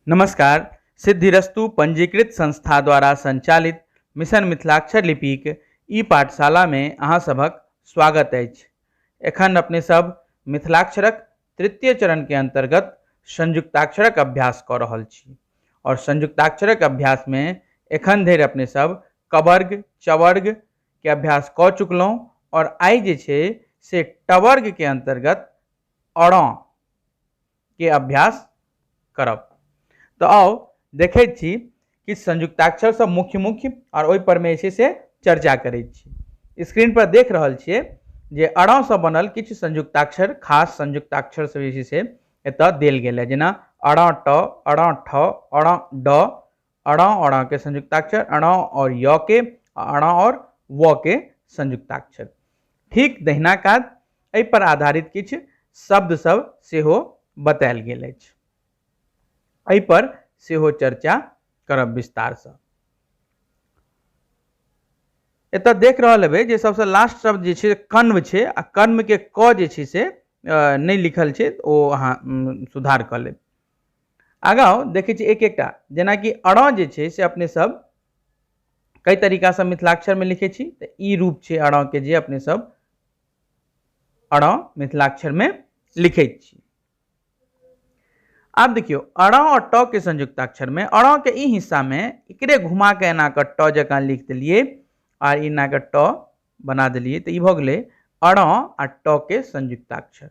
नमस्कार सिद्धिरस्तु पंजीकृत संस्था द्वारा संचालित मिशन मिथिलाक्षर लिपिक ई पाठशालामे अहाँ सभक स्वागत अछि एखन अपने सब मिथिलाक्षरक तृतीय चरणके अन्तर्गत संयुक्ताक्षरक अभ्यास कऽ रहल छी आओर संयुक्ताक्षरक अभ्यासमे एखन धरि अपने सब कवर्ग चवर्गके अभ्यास कऽ चुकलहुँ आओर आइ जे छै से टवर्गके अन्तर्गत अड़ँ के अभ्यास करब तऽ आउ देखै छी कि संयुक्ताक्षर सब मुख्य मुख्य आओर ओहिपर मे जे छै से चर्चा करै छी स्क्रीन पर देख रहल छियै जे अड़ा सँ बनल किछु संयुक्ताक्षर खास संयुक्ताक्षर सब जे छै से एतऽ देल गेल है जेना अड़ा ट अड़ा ठ अड़ा ड अड़ा अड़ा के संयुक्ताक्षर अड़ा और य के अड़ा और व के संयुक्ताक्षर ठीक दहिना काज एहि पर आधारित किछु शब्द सब सेहो बतायल गेल अछि एहि पर सेहो चर्चा करब विस्तार से एत देख रहा हेबै जे सबसे लास्ट शब्द जे छै कर्म छै आ कर्म के क जे छै से नहि लिखल छै ओ अहाँ सुधार क लेब आगाँ देखै छी एक एकटा जेनाकि अड़ा जे छै से अपने सब कई तरीका से मिथिलाक्षर में लिखे छी तऽ ई रूप छै अड़ा के जे अपने सब अड़ा मिथिलाक्षर में लिखे छी आब देखियो अड़ा और ट के संयुक्ताक्षर में अड़ा के ई हिस्सा में एकरे घुमा के एना के ट जकाँ लिख देलिए और एना के ट बना देलिए तऽ ई भऽ गेलै अड़ा आ ट के संयुक्ताक्षर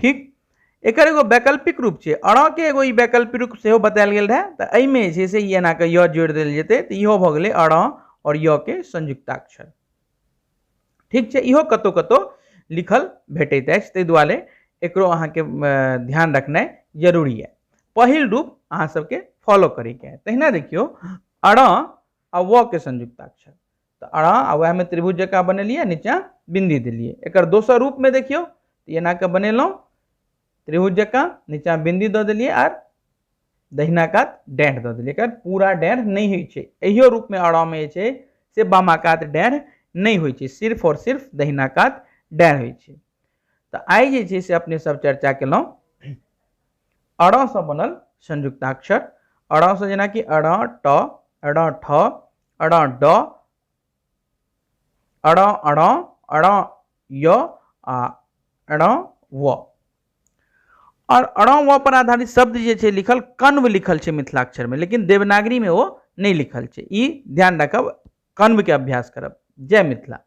ठीक एकर एगो वैकल्पिक रूप छै अड़के एगो ई वैकल्पिक रूप सेहो बतायल गेल रहए तऽ एहिमे जे छै से ई एनाके य जोड़ि देल जेतै तऽ इहो भऽ गेलै अड़ आओर य के संयुक्ताक्षर ठीक छै इहो कतहु कतहु लिखल भेटैत अछि ताहि दुआरे एकरो अहाँके अ, ध्यान रखनाइ जरूरी यए पहिल रूप अहाँ सबके फॉलो करैके है तहिना देखियौ अड़ आ व के संयुक्ताक्षर तऽ अड़ा आ वएहमे त्रिभुज जकाँ बनेलियै नीचाँ बिन्दी देलियै एकर दोसर रूपमे देखियौ तऽ एना कऽ बनेलहुँ त्रिभुज जकाँ नीचाँ बिन्दी दऽ देलियै आर दहिना कात डाँढ़ दऽ देलियै एकर पूरा डाँढ़ नहि होइ छै एहियो रूपमे अड़ामे जे छै से बामा कात डाँढ़ नहि होइ छै सिर्फ आओर सिर्फ दहिना कात डाँढ़ होइ छै तऽ आइ जे छै से अपने सब चर्चा केलहुँ अड़सँ बनल संयुक्ताक्षर अड़सँ जेनाकि अड़ा ट अड़ा ठ अड़ा ड अड़ा अड़ा अड़ा य आ अड़ा व और अड़ा व पर आधारित शब्द जे छै लिखल कन्व लिखल छै मिथिलाक्षर में लेकिन देवनागरी में वो नहीं लिखल छै ई ध्यान रखब कन्व के अभ्यास करब जय मिथिला